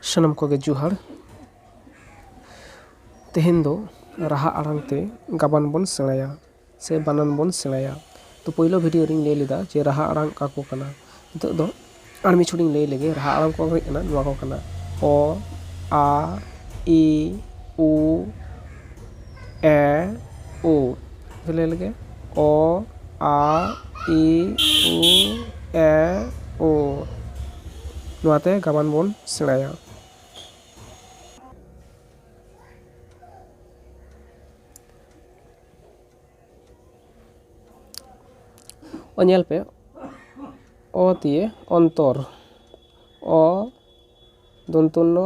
ᱥᱟᱱᱟᱢ ᱠᱚᱜᱮ ᱡᱚᱦᱟᱨ ᱛᱮᱦᱮᱧ ᱫᱚ ᱨᱟᱦᱟ ᱟᱲᱟᱝ ᱛᱮ ᱜᱟᱵᱟᱱ ᱵᱚᱱ ᱥᱮᱬᱟᱭᱟ ᱥᱮ ᱵᱟᱱᱟᱱ ᱵᱚᱱ ᱥᱮᱬᱟᱭᱟ ᱛᱚ ᱯᱳᱭᱞᱳ ᱵᱷᱤᱰᱭᱳ ᱨᱤᱧ ᱞᱟᱹᱭ ᱞᱮᱫᱟ ᱡᱮ ᱨᱟᱦᱟ ᱟᱲᱟᱝ ᱚᱠᱟ ᱠᱚ ᱠᱟᱱᱟ ᱱᱤᱛᱚᱜ ᱫᱚ ᱟᱨ ᱢᱤᱫ ᱪᱷᱚᱴ ᱤᱧ ᱞᱟᱹᱭ ᱞᱮᱜᱮ ᱨᱟᱦᱟ ᱟᱲᱟᱝ ᱠᱚ ᱦᱩᱭᱩᱜ ᱠᱟᱱᱟ ᱱᱚᱣᱟ ᱠᱚ ᱠᱟᱱᱟ ᱚ ᱟ ᱤ ᱩ ᱮ ᱳ ᱞᱟᱹᱭ ᱞᱮᱜᱮ ᱚ ᱟ ᱤ ᱩ ᱮ ᱳ ᱱᱚᱣᱟ ᱛᱮ ᱜᱟᱵᱟᱱ ᱵᱚᱱ ᱥᱮᱬᱟᱭᱟ ᱚ ᱧᱮᱞ ᱯᱮ ᱚ ᱫᱤᱭᱮ ᱚᱱᱛᱚᱨ ᱚ ᱫᱚᱱᱛᱚ ᱱᱚ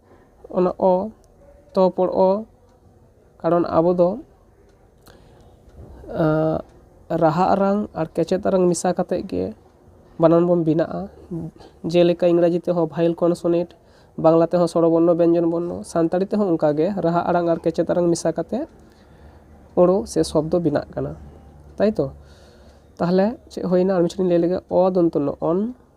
ᱚᱱᱟ ᱚ ᱛᱚ ᱯᱚᱨ ᱚ ᱠᱟᱨᱚᱱ ᱟᱵᱚ ᱫᱚ ᱨᱟᱦᱟ ᱟᱲᱟᱝ ᱟᱨ ᱠᱮᱪᱮᱫ ᱟᱲᱟᱝ ᱢᱮᱥᱟ ᱠᱟᱛᱮᱫ ᱜᱮ ᱵᱟᱱᱟᱢ ᱵᱚᱱ ᱵᱮᱱᱟᱜᱼᱟ ᱡᱮᱞᱮᱠᱟ ᱤᱝᱨᱟᱡᱤ ᱛᱮᱦᱚᱸ ᱵᱷᱟᱭᱮᱞ ᱠᱚᱱᱥᱚᱱᱮᱴ ᱵᱟᱝᱞᱟ ᱛᱮᱦᱚᱸ ᱥᱚᱨᱚ ᱵᱚᱨᱱᱚ ᱵᱮᱧᱡᱚᱱ ᱵᱚᱨᱱᱚ ᱥᱟᱱᱛᱟᱲᱤ ᱛᱮᱦᱚᱸ ᱚᱱᱠᱟ ᱜᱮ ᱨᱟᱦᱟ ᱟᱲᱟᱝ ᱟᱨ ᱠᱮᱪᱮᱫ ᱟᱲᱟᱝ ᱢᱮᱥᱟ ᱠᱟᱛᱮᱫ ᱟᱹᱲᱟᱹ ᱥᱮ ᱥᱚᱵᱫᱚ ᱵᱮᱱᱟᱜ ᱠᱟᱱᱟ ᱛᱟᱭᱛᱚ ᱛᱟᱦᱞᱮ ᱪᱮᱫ ᱦᱩᱭᱱᱟ ᱟᱨ ᱢᱤᱫ ᱪᱷᱚᱴ ᱤᱧ ᱞᱟᱹᱭ ᱞᱮᱜᱮ ᱚ ᱫᱚᱱᱛᱚ ᱱᱚ ᱚᱱ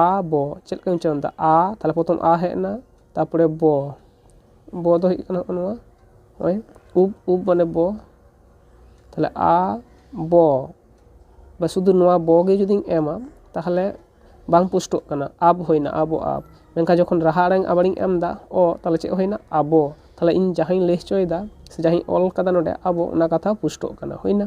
ᱟ ᱵᱚ ᱪᱮᱫ ᱞᱮᱠᱟᱧ ᱩᱪᱪᱟᱨᱚᱱᱫᱟ ᱟ ᱛᱟᱦᱚᱞᱮ ᱯᱨᱚᱛᱷᱚᱢ ᱟ ᱦᱮᱡ ᱮᱱᱟ ᱛᱟᱨᱯᱚᱨᱮ ᱵᱚ ᱵᱚ ᱫᱚ ᱦᱩᱭᱩᱜ ᱠᱟᱱᱟ ᱦᱚᱸᱜᱼᱚ ᱱᱚᱣᱟ ᱱᱚᱜᱼᱚᱭ ᱩᱵ ᱩᱵ ᱢᱟᱱᱮ ᱵᱚ ᱛᱟᱦᱚᱞᱮ ᱟ ᱵᱚ ᱵᱟ ᱥᱩᱫᱷᱩ ᱱᱚᱣᱟ ᱵᱚ ᱜᱮ ᱡᱩᱫᱤᱧ ᱮᱢᱟ ᱛᱟᱦᱚᱞᱮ ᱵᱟᱝ ᱯᱩᱥᱴᱟᱹᱜ ᱠᱟᱱᱟ ᱟᱵ ᱦᱩᱭᱱᱟ ᱟᱵᱚ ᱟᱵ ᱢᱮᱱᱠᱷᱟᱱ ᱡᱚᱠᱷᱚᱱ ᱨᱟᱦᱟ ᱟᱲᱟᱝ ᱟᱵᱟᱨᱤᱧ ᱮᱢᱫᱟ ᱚ ᱛᱟᱦᱚᱞᱮ ᱪᱮᱫ ᱦᱩᱭᱱᱟ ᱟᱵᱚ ᱛᱟᱦᱚᱞᱮ ᱤᱧ ᱡᱟᱦᱟᱸᱧ ᱞᱟᱹᱭ ᱦᱚᱪᱚᱭᱮᱫᱟ ᱥᱮ ᱡᱟᱦᱟᱸᱧ ᱚᱞ ᱠᱟᱫᱟ ᱱᱚᱰᱮ ᱟᱵᱚ ᱚᱱᱟ ᱠᱟᱛᱷᱟ ᱯᱩᱥᱴᱟᱹᱜ ᱠᱟᱱᱟ ᱦᱩᱭᱱᱟ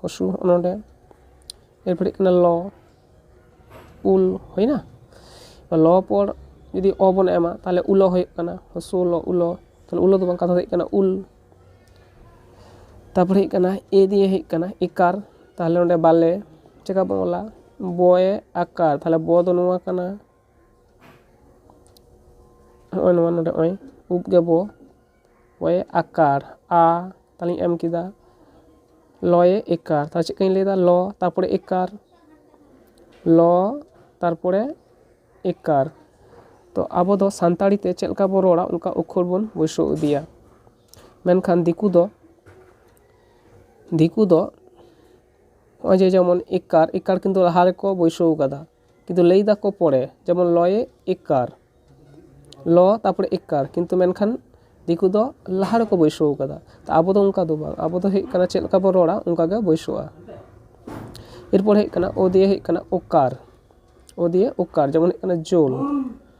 ᱦᱚᱥᱩ ᱦᱚᱸᱜᱼᱚ ᱱᱚᱰᱮ ᱮᱨᱯᱚᱨ ᱦᱩᱭᱩᱜ ᱠᱟᱱᱟ ᱞᱚ ᱩᱞ ᱦᱩᱭᱱᱟ ᱞᱚ ᱯᱚᱨ ᱡᱩᱫᱤ ᱚ ᱵᱚᱱ ᱮᱢᱟ ᱛᱟᱦᱚᱞᱮ ᱩᱞᱚ ᱦᱩᱭᱩᱜ ᱠᱟᱱᱟ ᱦᱚᱥᱩ ᱞᱚ ᱩᱞᱚ ᱛᱟᱦᱚᱞᱮ ᱩᱞᱚ ᱫᱚ ᱵᱟᱝ ᱠᱟᱛᱷᱟ ᱫᱚ ᱦᱩᱭᱩᱜ ᱠᱟᱱᱟ ᱩᱞ ᱛᱟᱨᱯᱚᱨ ᱦᱩᱭᱩᱜ ᱠᱟᱱᱟ ᱮ ᱫᱤᱭᱮ ᱦᱩᱭᱩᱜ ᱠᱟᱱᱟ ᱮᱠᱟᱨ ᱛᱟᱦᱚᱞᱮ ᱚᱸᱰᱮ ᱵᱟᱞᱮ ᱪᱮᱠᱟ ᱵᱚᱱ ᱚᱞᱟ ᱵᱚᱭᱮ ᱟᱠᱟᱨ ᱛᱟᱦᱚᱞᱮ ᱵᱚ ᱫᱚ ᱱᱚᱣᱟ ᱠᱟᱱᱟ ᱦᱚᱸᱜᱼᱚᱭ ᱱᱚᱣᱟ ᱱᱚᱰᱮ ᱦᱚᱸᱜᱼᱚᱭ ᱩᱵ ᱜᱮ ᱵᱚ ᱚᱭᱮ ᱟᱠᱟᱨ ᱟ ᱛᱟᱦᱚᱞᱮᱧ ᱮᱢ ᱠᱮᱫᱟ ᱞᱚᱭᱮ ᱮᱠᱟᱨ ᱛᱟᱦᱚᱞᱮ ᱪᱮᱫ ᱞᱮᱠᱟᱧ ᱞᱟᱹᱭᱫᱟ ᱞᱚ ᱛᱟᱨᱯᱚᱨᱮ ᱮᱠᱟᱨ ᱞᱚ ᱛᱟᱨᱯᱚᱨᱮ ᱮᱠᱟᱨ ᱛᱚ ᱟᱵᱚ ᱫᱚ ᱥᱟᱱᱛᱟᱲᱤ ᱛᱮ ᱪᱮᱫ ᱞᱮᱠᱟ ᱵᱚᱱ ᱨᱚᱲᱟ ᱚᱱᱠᱟ ᱚᱠᱠᱷᱚᱨ ᱵᱚᱱ ᱵᱟᱹᱭᱥᱟᱹᱣ ᱤᱫᱤᱭᱟ ᱢᱮᱱᱠᱷᱟᱱ ᱫᱤᱠᱩ ᱫᱚ ᱫᱤᱠᱩ ᱫᱚ ᱱᱚᱜᱼᱚᱭ ᱡᱮ ᱡᱮᱢᱚᱱ ᱮᱠᱟᱨ ᱮᱠᱟᱨ ᱠᱤᱱᱛᱩ ᱞᱟᱦᱟ ᱨᱮᱠᱚ ᱵᱟᱹᱭᱥᱟᱹᱣ ᱠᱟᱫᱟ ᱠᱤᱱᱛᱩ ᱞᱟᱹᱭ ᱫᱟᱠᱚ ᱯᱚᱲᱮ ᱡᱮᱢᱚᱱ ᱞᱚᱭᱮ ᱮᱠᱟᱨ ᱞᱚ ᱛᱟᱨᱯᱚᱨᱮ ᱮᱠᱟᱨ ᱠᱤᱱᱛᱩ ᱢᱮᱱᱠᱷᱟᱱ ᱫᱤᱠᱩ ᱫᱚ ᱞᱟᱦᱟ ᱨᱮᱠᱚ ᱵᱟᱹᱭᱥᱟᱹᱣ ᱠᱟᱫᱟ ᱛᱚ ᱟᱵᱚ ᱫᱚ ᱚᱱᱠᱟ ᱫᱚ ᱵᱟᱝ ᱟᱵᱚ ᱫᱚ ᱦᱩᱭᱩᱜ ᱠᱟᱱᱟ ᱪᱮᱫ ᱞᱮᱠᱟ ᱵᱚᱱ ᱨᱚᱲᱟ ᱚᱱᱠᱟ ᱜᱮ ᱵᱟᱹᱭᱥᱟᱹᱜᱼᱟ ᱮᱨᱯᱚᱨ ᱦᱮᱡ ᱠᱟᱱᱟ ᱚ ᱫᱤᱭᱮ ᱦᱩᱭᱩᱜ ᱠᱟᱱᱟ ᱚᱠᱟᱨ ᱚ ᱫᱤᱭᱮ ᱚᱠᱟᱨ ᱡᱮᱢᱚᱱ ᱦᱩᱭᱩᱜ ᱠᱟᱱᱟ ᱡᱳᱞ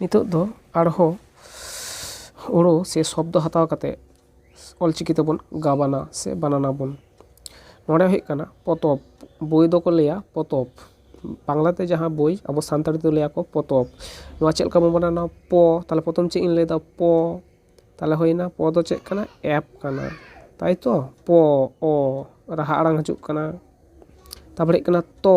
ᱱᱤᱛᱚᱜ ᱫᱚ ᱟᱨᱦᱚᱸ ᱟᱹᱲᱟᱹ ᱥᱮ ᱥᱚᱵᱫᱚ ᱦᱟᱛᱟᱣ ᱠᱟᱛᱮ ᱚᱞ ᱪᱤᱠᱤ ᱛᱮᱵᱚᱱ ᱜᱟᱵᱟᱱᱟ ᱥᱮ ᱵᱟᱱᱟᱱ ᱟᱵᱚᱱ ᱱᱚᱰᱮ ᱦᱩᱭᱩᱜ ᱠᱟᱱᱟ ᱯᱚᱛᱚᱵ ᱵᱳᱭ ᱫᱚᱠᱚ ᱞᱟᱹᱭᱟ ᱯᱚᱛᱚᱵ ᱵᱟᱝᱞᱟ ᱛᱮ ᱡᱟᱦᱟᱸ ᱵᱳᱭ ᱟᱵᱚ ᱥᱟᱱᱛᱟᱲ ᱛᱮᱫᱚ ᱞᱟᱹᱭ ᱟᱠᱚ ᱯᱚᱛᱚᱵ ᱱᱚᱣᱟ ᱪᱮᱫ ᱞᱮᱠᱟ ᱵᱚᱱ ᱵᱟᱱᱟᱱᱟ ᱯᱚ ᱛᱟᱦᱚᱞᱮ ᱯᱨᱚᱛᱷᱚᱢ ᱪᱮᱫ ᱤᱧ ᱞᱟᱹᱭᱫᱟ ᱯᱚ ᱛᱟᱦᱚᱞᱮ ᱦᱩᱭᱱᱟ ᱯᱚ ᱫᱚ ᱪᱮᱫ ᱠᱟᱱᱟ ᱮᱯ ᱠᱟᱱᱟ ᱛᱟᱭᱛᱚ ᱯᱚ ᱚ ᱨᱟᱦᱟ ᱟᱲᱟᱝ ᱦᱤᱡᱩᱜ ᱠᱟᱱᱟ ᱛᱟᱨᱯᱚᱨᱮ ᱦᱩᱭᱩᱜ ᱠᱟᱱᱟ ᱛᱚ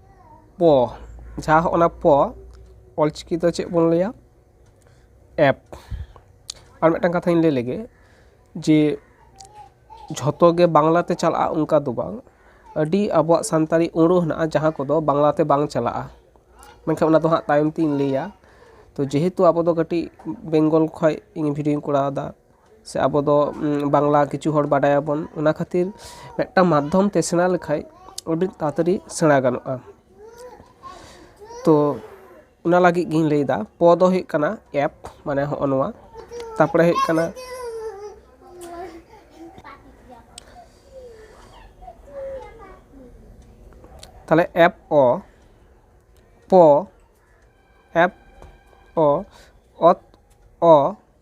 ᱯᱚ ᱡᱟᱦᱟᱸ ᱦᱚᱸᱜᱼᱚ ᱱᱟ ᱯᱚ ᱚᱞ ᱪᱤᱠᱤ ᱛᱮ ᱪᱮᱫ ᱵᱚᱱ ᱞᱟᱹᱭᱟ ᱮᱯ ᱟᱨ ᱢᱤᱫᱴᱟᱱ ᱠᱟᱛᱷᱟᱧ ᱞᱟᱹᱭ ᱞᱮᱜᱮ ᱡᱮ ᱡᱷᱚᱛᱚ ᱜᱮ ᱵᱟᱝᱞᱟ ᱛᱮ ᱪᱟᱞᱟᱜᱼᱟ ᱚᱱᱠᱟ ᱫᱚ ᱵᱟᱝ ᱟᱹᱰᱤ ᱟᱵᱚᱣᱟᱜ ᱥᱟᱱᱛᱟᱲᱤ ᱟᱹᱲᱟᱹ ᱦᱮᱱᱟᱜᱼᱟ ᱡᱟᱦᱟᱸ ᱠᱚᱫᱚ ᱵᱟᱝᱞᱟ ᱛᱮ ᱵᱟᱝ ᱪᱟᱞᱟᱜᱼᱟ ᱢᱮᱱᱠᱷᱟᱱ ᱚᱱᱟ ᱫᱚ ᱦᱟᱸᱜ ᱛᱟᱭᱚᱢ ᱛᱤᱧ ᱞᱟᱹᱭᱟ ᱛᱚ ᱡᱮᱦᱮᱛᱩ ᱟᱵᱚ ᱫᱚ ᱠᱟᱹᱴᱤᱡ ᱵᱮᱝᱜᱚᱞ ᱠᱷᱚᱱ ᱤᱧ ᱵᱷᱤᱰᱭᱳᱧ ᱠᱚᱨᱟᱣᱫᱟ ᱥᱮ ᱟᱵᱚ ᱫᱚ ᱵᱟᱝᱞᱟ ᱠᱤᱪᱷᱩ ᱦᱚᱲ ᱵᱟᱰᱟᱭ ᱟᱵᱚᱱ ᱚᱱᱟ ᱠᱷᱟᱹᱛᱤᱨ ᱢᱤᱫᱴᱟᱝ ᱢᱟᱫᱽᱫᱷᱚᱢ ᱛᱮ ᱥᱮᱬᱟ ᱞᱮᱠᱷᱟᱱ ᱟᱹᱰᱤ ᱛᱟᱲᱟᱛᱟᱹᱲᱤ ᱥᱮᱬᱟ ᱜᱟᱱᱚᱜᱼᱟ ᱛᱚ ᱚᱱᱟ ᱞᱟᱹᱜᱤᱫ ᱜᱤᱧ ᱞᱟᱹᱭᱫᱟ ᱯᱚ ᱫᱚ ᱦᱩᱭᱩᱜ ᱠᱟᱱᱟ ᱮᱯ ᱢᱟᱱᱮ ᱦᱚᱜᱼᱚᱭ ᱱᱚᱣᱟ ᱛᱟᱨᱯᱚᱨᱮ ᱦᱩᱭᱩᱜ ᱠᱟᱱᱟ ᱛᱟᱦᱚᱞᱮ ᱮᱯ ᱚ ᱯᱚ ᱮᱯ ᱚ ᱚᱛ ᱚ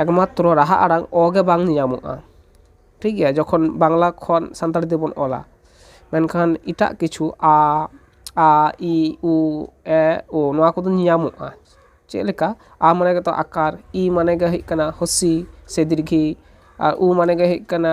ᱮᱠᱢᱟᱛᱨᱚ ᱨᱟᱦᱟ ᱟᱲᱟᱝ ᱚ ᱜᱮ ᱵᱟᱝ ᱧᱮᱧᱟᱢᱚᱜᱼᱟ ᱴᱷᱤᱠ ᱜᱮᱭᱟ ᱡᱚᱠᱷᱚᱱ ᱵᱟᱝᱞᱟ ᱠᱷᱚᱱ ᱥᱟᱱᱛᱟᱲᱤ ᱛᱮᱵᱚᱱ ᱚᱞᱟ ᱢᱮᱱᱠᱷᱟᱱ ᱮᱴᱟᱜ ᱠᱤᱪᱷᱩ ᱟ ᱟ ᱤ ᱩ ᱮ ᱳ ᱱᱚᱣᱟ ᱠᱚᱫᱚ ᱧᱮᱧᱟᱢᱚᱜᱼᱟ ᱪᱮᱫ ᱞᱮᱠᱟ ᱟ ᱢᱟᱱᱮ ᱜᱮᱛᱚ ᱟᱠᱟᱨ ᱤ ᱢᱟᱱᱮ ᱜᱮ ᱦᱩᱭᱩᱜ ᱠᱟᱱᱟ ᱦᱩᱥᱤ ᱥᱮ ᱫᱤᱨᱜᱷᱤ ᱟᱨ ᱩ ᱢᱟᱱᱮ ᱜᱮ ᱦᱩᱭᱩᱜ ᱠᱟᱱᱟ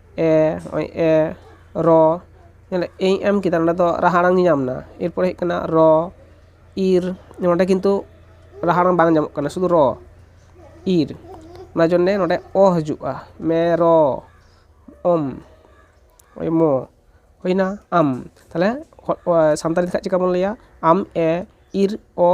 ᱮ ᱱᱚᱜᱼᱚᱭ ᱮ ᱨᱚ ᱧᱮᱞ ᱮ ᱤᱧ ᱮᱢ ᱠᱮᱫᱟ ᱱᱚᱸᱰᱮ ᱫᱚ ᱨᱟᱦᱟ ᱟᱲᱟᱝ ᱧᱟᱢ ᱮᱱᱟ ᱮᱨᱯᱚᱨᱮ ᱦᱮᱡ ᱠᱟᱱᱟ ᱨᱚ ᱤᱨ ᱱᱚᱸᱰᱮ ᱠᱤᱱᱛᱩ ᱨᱟᱦᱟ ᱟᱲᱟᱝ ᱵᱟᱝ ᱧᱟᱢᱚᱜ ᱠᱟᱱᱟ ᱥᱩᱫᱩ ᱨᱚ ᱤᱨ ᱚᱱᱟ ᱡᱚᱱᱱᱮ ᱱᱚᱸᱰᱮ ᱚ ᱦᱤᱡᱩᱜᱼᱟ ᱢᱮᱨᱚᱢ ᱚᱢ ᱢᱚ ᱦᱩᱭᱱᱟ ᱟᱢ ᱛᱟᱦᱚᱞᱮ ᱥᱟᱱᱛᱟᱲᱤ ᱛᱮᱠᱷᱟᱱ ᱪᱤᱠᱟᱹ ᱵᱚᱱ ᱞᱟᱹᱭᱟ ᱟᱢ ᱮ ᱤᱨ ᱚ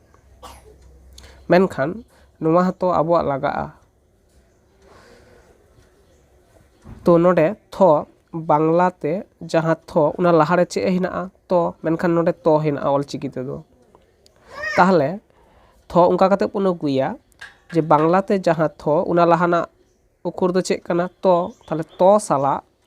ᱢᱮᱱᱠᱷᱟᱱ ᱱᱚᱣᱟ ᱦᱚᱸᱛᱚ ᱟᱵᱚᱣᱟᱜ ᱞᱟᱜᱟᱜᱼᱟ ᱛᱚ ᱱᱚᱰᱮ ᱛᱷᱚ ᱵᱟᱝᱞᱟ ᱛᱮ ᱡᱟᱦᱟᱸ ᱛᱷᱚ ᱚᱱᱟ ᱞᱟᱦᱟ ᱨᱮ ᱪᱮᱫ ᱦᱮᱱᱟᱜᱼᱟ ᱛᱚ ᱢᱮᱱᱠᱷᱟᱱ ᱱᱚᱰᱮ ᱛᱚ ᱦᱮᱱᱟᱜᱼᱟ ᱚᱞ ᱪᱤᱠᱤ ᱛᱮᱫᱚ ᱛᱟᱦᱚᱞᱮ ᱛᱷᱚ ᱚᱱᱠᱟ ᱠᱟᱛᱮ ᱵᱚᱱ ᱟᱹᱜᱩᱭᱟ ᱡᱮ ᱵᱟᱝᱞᱟ ᱛᱮ ᱡᱟᱦᱟᱸ ᱛᱷᱚ ᱚᱱᱟ ᱞᱟᱦᱟ ᱨᱮᱱᱟᱜ ᱚᱠᱷᱚᱨ ᱫᱚ ᱪᱮᱫ ᱠᱟᱱᱟ ᱛᱚ ᱛᱟᱦᱚᱞᱮ ᱛᱚ ᱥᱟᱞᱟᱜ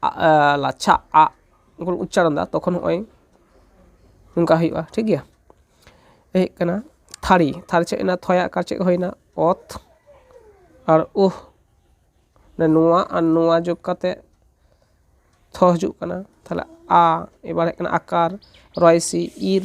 ᱟ ᱞᱟᱪᱷᱟ ᱟᱜ ᱵᱚᱱ ᱩᱪᱪᱟᱨᱚᱱ ᱮᱫᱟ ᱛᱚᱠᱷᱚᱱ ᱱᱚᱜᱼᱚᱭ ᱱᱚᱝᱠᱟ ᱦᱩᱭᱩᱜᱼᱟ ᱴᱷᱤᱠ ᱜᱮᱭᱟ ᱮᱭ ᱦᱩᱭᱩᱜ ᱠᱟᱱᱟ ᱛᱷᱟᱹᱨᱤ ᱛᱷᱟᱹᱨᱤ ᱪᱮᱫ ᱦᱩᱭᱱᱟ ᱛᱷᱚᱭᱟᱜ ᱠᱟᱨ ᱪᱮᱫ ᱦᱩᱭᱱᱟ ᱚᱛ ᱟᱨ ᱩᱦ ᱱᱚᱣᱟ ᱟᱨ ᱱᱚᱣᱟ ᱡᱳᱜᱽ ᱠᱟᱛᱮᱫ ᱛᱷᱚ ᱦᱤᱡᱩᱜ ᱠᱟᱱᱟ ᱛᱟᱦᱞᱮ ᱟ ᱮᱵᱟᱨ ᱦᱮᱡ ᱠᱟᱱᱟ ᱟᱠᱟᱨ ᱨᱚᱭᱮ ᱥᱤ ᱤᱨ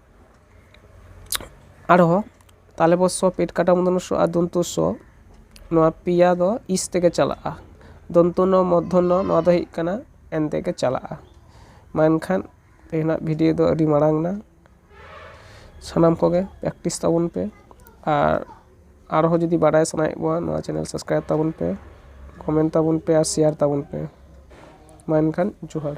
ᱟᱨᱦᱚᱸ ᱛᱟᱞᱮ ᱵᱚᱨᱥᱚ ᱯᱮᱴ ᱠᱟᱴᱟ ᱢᱩᱸᱰᱩ ᱢᱩᱥᱚ ᱟᱨ ᱫᱚᱱᱛᱚ ᱥᱚ ᱱᱚᱣᱟ ᱯᱮᱭᱟ ᱫᱚ ᱤᱥ ᱛᱮᱜᱮ ᱪᱟᱞᱟᱜᱼᱟ ᱫᱚᱱᱛᱚ ᱱᱚ ᱢᱚᱫᱽᱫᱷᱚ ᱱᱚ ᱱᱚᱣᱟ ᱫᱚ ᱦᱩᱭᱩᱜ ᱠᱟᱱᱟ ᱮᱱ ᱛᱮᱜᱮ ᱪᱟᱞᱟᱜᱼᱟ ᱢᱟ ᱮᱱᱠᱷᱟᱱ ᱛᱮᱦᱮᱧᱟᱜ ᱵᱷᱤᱰᱤᱭᱳ ᱫᱚ ᱟᱹᱰᱤ ᱢᱟᱨᱟᱝ ᱮᱱᱟ ᱥᱟᱱᱟᱢ ᱠᱚᱜᱮ ᱯᱨᱮᱠᱴᱤᱥ ᱛᱟᱵᱚᱱ ᱯᱮ ᱟᱨ ᱟᱨᱦᱚᱸ ᱡᱩᱫᱤ ᱵᱟᱰᱟᱭ ᱥᱟᱱᱟᱭᱮᱫ ᱵᱚᱱᱟ ᱱᱚᱣᱟ ᱪᱮᱱᱮᱞ ᱥᱟᱵᱥᱠᱨᱟᱭᱤᱵᱽ ᱛᱟᱵᱚᱱ ᱯᱮ ᱠᱚᱢᱮᱱᱴ ᱛᱟᱵᱚᱱ ᱯᱮ ᱟᱨ ᱥᱮᱭᱟᱨ ᱛᱟᱵᱚᱱ ᱯᱮ ᱢᱟ ᱮᱱᱠᱷᱟᱱ ᱡᱚᱦᱟᱨ